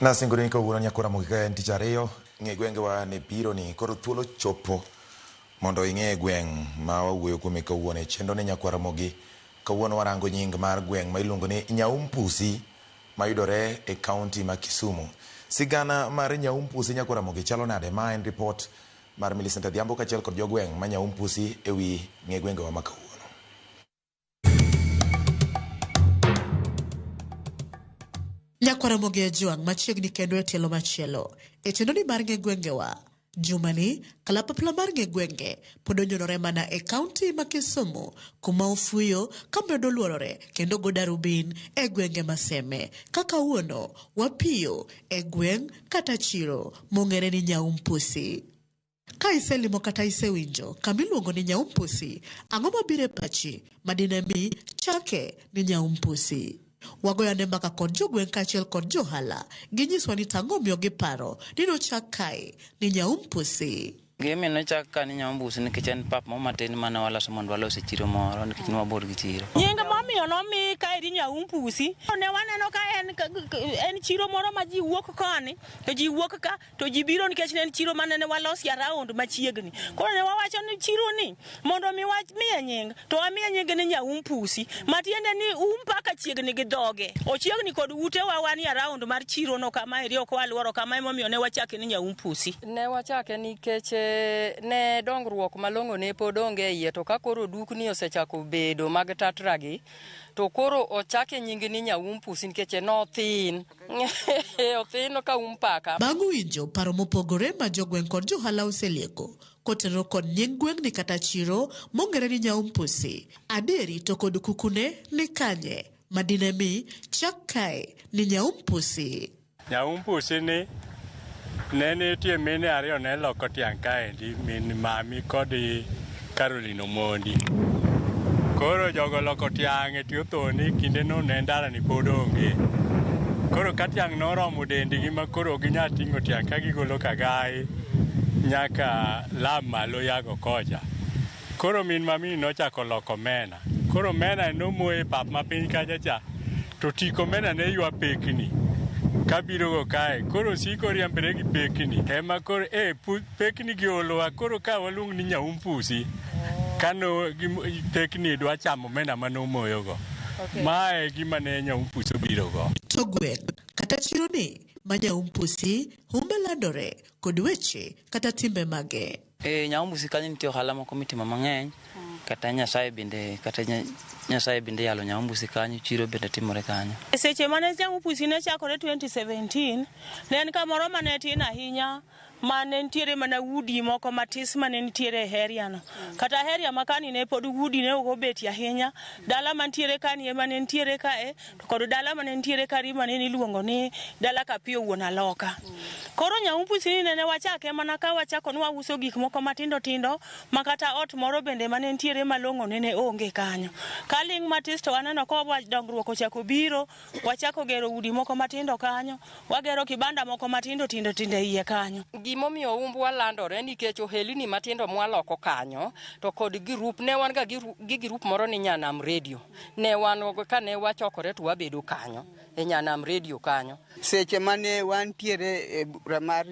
Nasingonu ni kawuono nyako Ramogi ka en tich ariyo ng'e gwenge wa ne biro ni koro thuolo chopo mondo ing'e gweng' ma wawuoyo kuome kawuono e chenro ni nyakwa Ramogi. Kawuono warango nying mar gweng' ma iluongo ni Nyaumpusi mayudore e county ma Kisumu. Sigana mar Nyaumpusi nyakwa Ramogi chalo nade? Ma en report mar Millicent Adhiambo kachiel kod jogweng' ma Nyaumpusi e wi ng'e gwenge wa ma kawuono. Nyakwaramogi Ojwang' machiegni kendo e tielo machielo e chenoni mar ng'e gwengewa. Jumani, kalapapla mar ng'e gwenge pod onyonore mana e kaunti ma Kisumu kuma ofuyo kamedo luorore kendo go darubin e gwenge maseme ka kawuono wapiyo e gweng' kata chiro mong'ere ni Nyaumpusi. Ka iselimo kata isewinjo kama iluongo ni Nyaumpusi, ang'o mabiro e pachi ma dine mi chake ni Nyaumpusi? Wagoyo ane mbaka kod jogweng' kaachiel kod johala ginyiswa ni tang'o omiyo giparo ni nochak kae ni Nyaumpusi. Gimi nochak ka ni Nyaumbusi nikech en pap moro matin mane waloso mondo walos e chiro moro nikech ne wabor gi chiro. Nying momiyo nomi kaeri Nyaumpusi, ne waneno ka en chiro moro ma ji wuok koni to ji wuok ka. to ji biro nikech ne en chiro mane ne walosi around machiegni koro ne wawacho ni chiro ni mondo mi wamiye nying to wamiye nyinge ni nyaum pusi matiende ni um paka chiegni gi dhoge ochiegni kod ute wa wan around mar chiro no kama eri ok waluoro kama emomiyo ne wachake ni nyaum pusi ne wachake nikech eh, ne dongruok malong'o ne pod onge e iye to ka koro dukni osechako bedo mag tatragi to koro ochake nyinge ni nyaum pusi nikech nothin Othino ka um paka. Bang' winjo paro mopogore ma jogweng' kod johala oselieko kotenore kod nying gweng'ni kata chiro mong'ere ni Nyaumpusi, adieri to kod kukune ni kanye ma dine mi chak kae ni Nyaumpusi? Nyaumpusi ni Ne nitie mine ariyo ne loko tiang' kaendi, min mami kod Caroline Omondi. Koro jogo loko tiang' e tie othoni kindeno ne ndalani pod onge. Koro ka tiang' noromo dendgi ma koro ok ginyal ting'o tiang' ka gigolo kagaye nyaka lab malo yago kocha. Koro min mamini nochako loko omena. Koro omena nomoye e pap ma piny kacha cha, to tik omena ne ywa pekni kabirogo kae. Koro osiko oriembore gi pekni. Ema koro e pekni gi olowa. Koro ka waluong ni nyaumpusi ka no pekni dwa chamo omena ma nomoyogo. Ma e gima ne nyaumpusi obirogo. To gweng' kata chironi ma nyaumpusi humbe landore kod weche kata timbe mage? Ee, Nyaombusi kanyo nitie ohala moko mitimo mang'eny. Kata Nyasaye bende, kata nya- Nyasaye bende yalo Nyaombusi kanyo, chiro bende timore kanyo. E seche mane Nyaombusi ne chakore 2017, ne en kamoro mane tin ahinya ma ne nitiere mana udi moko matis mane nitiere e area no. Kata area ma kani ne pod udi ne ok obetie ahinya, dala mantiere kani ema ne nitiere kae kod dala mane nitiere kari mane niluongo ni dala Kapio wuon Aloka. Koro Nyaupusi ni nene wachake mana ka wachako ni wauso gik moko matindo tindo ma kata ot moro bende mane nitiere malong'o nene onge kanyo. Kaling' matis to aneno ka wa- dongruok ochako biro, wachako gero udi moko matindo kanyo, wagero kibanda moko matindo tindo tindo e iye kanyo. Gimomiyo umbwa landore nikech ohelini matindo mwaloko kanyo to kod girup ne wan ga giru- gi girup moro ni Nyanam Radio. Ne wan kane wachokore to wabedo kanyo e Nyanam Radio kanyo. Seche mane wantiere e bura mar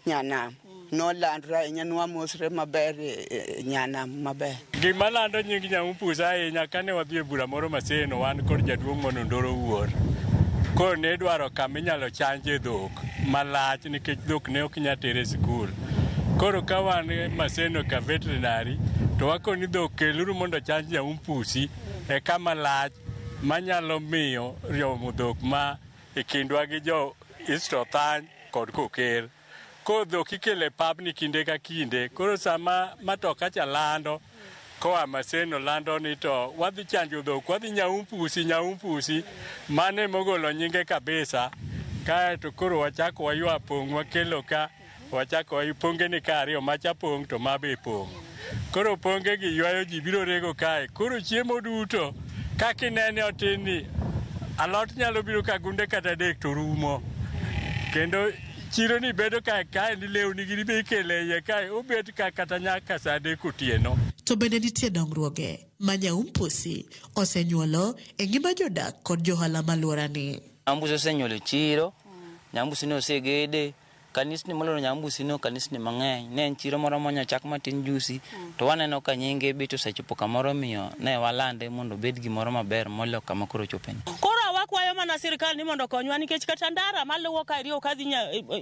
Nyanam nolandre ahinya nwamosre maber e, e Nyanam maber. Gima lando nying Nyamumpus ahinya kane wadhi e bura moro Maseno wan kod jaduong' mono Ndoro Wuor. Koro ne idwaro kama inyalo chanje dhok malach nikech dhok ne ok inyal tere e sikul. Koro ka wan Maseno ka veterinary to wakoni dhok keluru mondo chanj nyaumpusi e kama lach manyalo miyo riomo dhok ma e kindwa gi jo East Othany kod Koker. Koro dhok ikele pabni kinde ka kinde. Koro sama matoka cha lando koa Maseno lando ni to wadhi chanjo dhok, wadhi nyaumpusi, nyaumpusi. Mano emogolo nyinge kabisa. Kaeto koro wachako waywa pong' wakelo ka. Wachako wayu pongeni ka ariyo, macha pong' to ma be pong'. Koro pongegi ywayo ji biro rego kae. Koro chiemo duto kaka inene otin ni alot nyalo biro ka gunde kata adek to rumo. Kendo chironi bedo ka kaendi lewni gini be ikelo e iye kae obet ka kata nyaka sa adek otieno. To bende nitie dongruoge ma Nyaumpusi osenyuolo e ngima jodak kod johala malworani. Nyambusi osenyuolo chiro, Nyambusi ne osegede, Kanisni molor Nyambusi no kanisni mang'eny. Ne en chiro moro monyo chak matin jusi, mm. to waneno ka nyinge bit osechopo kamoro miyo ne walande mondo obed gimoro maber molo kama koro chopeni. Koro awakwayo mana sirkal ni mondo konywa nikech kata ndara maluwo ka iriyo kadhi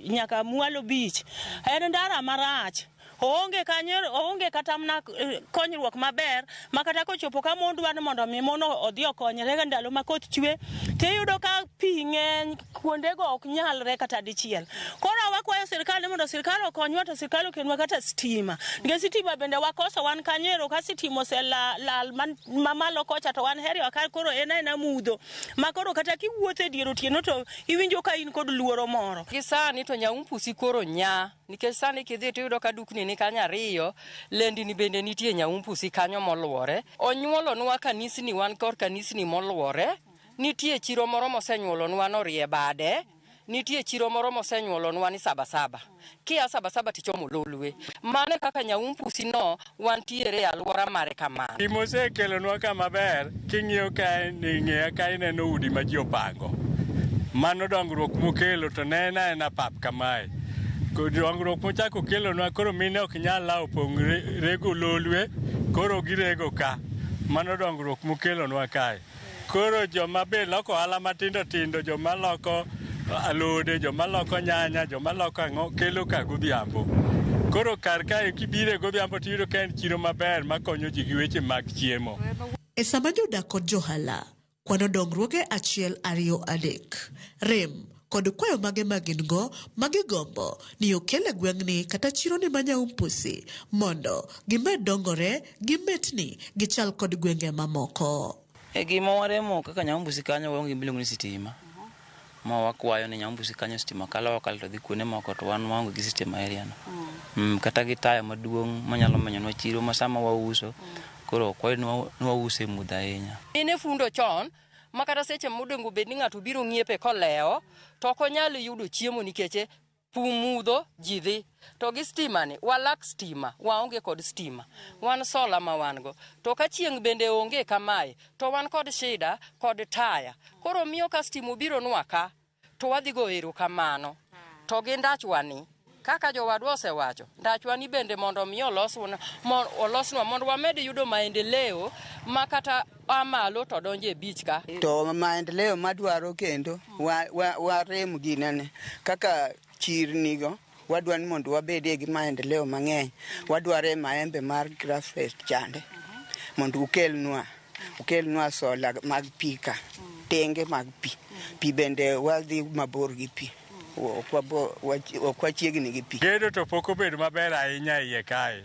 nyaka mwalo beach en ndara marach. Oonge kanyo, oonge kata mna eh, konyruok maber ma kata kochopo ka mon dwaro ni mondo mi mon odhi okonyre ndalo ma koth chwe to iyudo ka pi ng'eny kuondego ok nyalre kata dichiel. Koro wakwayo sirkal ni mondo sirkal okonywa to sirkal okelnwa kata stima. Nikech sitima bende wakoso wan kanyo ero ka sitima oselal lal man- mamalo kocha to wan heri waka koro en aena mudho ma koro kata kiwuotho e dier otieno to iwinjo ka in kod luoro moro. Gi sani to nyaumpus koro nya. Nikech sani kidhi to iyudo ka dukni ni kanyo ariyo, lendini bende nitie Nyaumbusi kanyo moluwore. Onyuolonwa kanisni wan kor kanisni moluwore. Nitie chiro moro mosenyuolonwa ni orie bade. Nitie chiro moro mosenyuolonwa ni sabasaba. Kia sabasaba tichomo lolwe. Mano e kaka Nyaumbusi no wantiere e alwora mare kamano. Gima osekelonwa ka maber king'iyo kae ni ng'eya ka ineno udi ma ji opango. Mano dongruok mokelo to ne en aena pap kamae. Ko- Dongruok mochako kelonwa koro mine ok nyal lawo pong' re- rego lolwe koro girego ka. Mano dongruok mokelonwa kae. Koro joma be loko ohala matindo tindo, joma loko alode, joma loko nyanya, joma loko ang'o, kelo ka godhiambo. Koro kar kae kibire godhiambo tiyudo ka en chiro maber makonyo ji gi weche mag chiemo. E sama jodak kod johala kwano dongruoge achiel ariyo adek, rem kod kwayo mage ma gin go ma gigombo ni okel e gweng'ni kata chironi ma Nyaumpusi mondo gimed dongore gi metni gichal kod gwenge mamoko. E gima waremo kaka Nyaumbusi kanyo waonge gimiluongo ni sitima. Ma wakwayo ni Nyaumbusi kanyo sitima kalo okalo to dhi kuonde moko to wan waonge gi sitima e area no. Mm, kata gi taya maduong' manyalo menyonwa chiro ma sama wauso koro okwayo ni wa- ni wause mudho ahinya. Mine fundo chon ma kata seche modongo bed ni ng'ato biro ng'iepe kolewo to ok onyal yudo chiemo nikech pumudho ji dhi to gi stima ni walak stima waonge kod stima wan sola ma wan go to ka chieng' bende onge kamae to wan kod shida kod taya koro miyo ka stima obiro nwa ka To wadhi go ero kamano. To gi ndachwani, kaka jowadwa osewacho, ndachwani bende mondo omi olosnwa olosnwa mondo wamed yudo maendeleo ma kata a malo to donjo e beach ka. To maendeleo madwaro kendo warem wa, wa ginene kaka chirnigo Wadwa ni mondo wabedie gi maendeleo mang'eny, wadware maembe mar grassrest chande mondo ukelnwa ukelnwa sola mag pi ka tenge mag pi. Pi bende wadhi mabor gi pi, ok wabo- wach- ok wachiegni gi pi. Gedo to pok obedo maber ahinya e iye kae.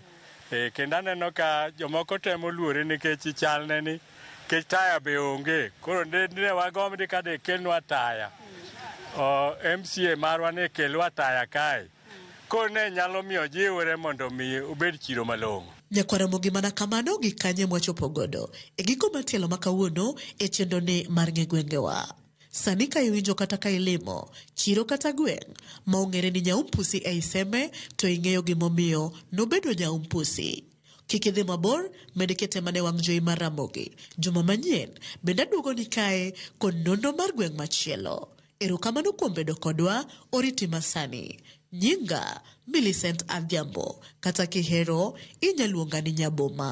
E, kendo aneno ka jomoko temo luore nikech chalne ni kech taya be onge koro ne wagomdi ka de kelnwa taya o, mca marwa ne kelwa taya kae koro ne nyalo miyo jiwre mondo mi obed chiro malong'o Nyakwar Ramogi mana kamano gi kanye mwachopo godo e giko mar tielo ma kawuono e chenro ni mar ng'e gwengewa. Sani ka iwinjo kata ka ilimo chiro kata gweng' ma ong'ere ni nyaumpusi ei Seme to ing'eyo gimomiyo nobedo nyaumpusi. Kik idhi mabor, med kete mana e wang' jowi mar Ramogi. Juma manyien bende aduogoni kae kod nonro mar gweng' machielo. Erokamano kuom bedo kodwa, oriti masani. Nyinga Millicent Adhiambo kata kihero inyaluonga ni Nyaboma.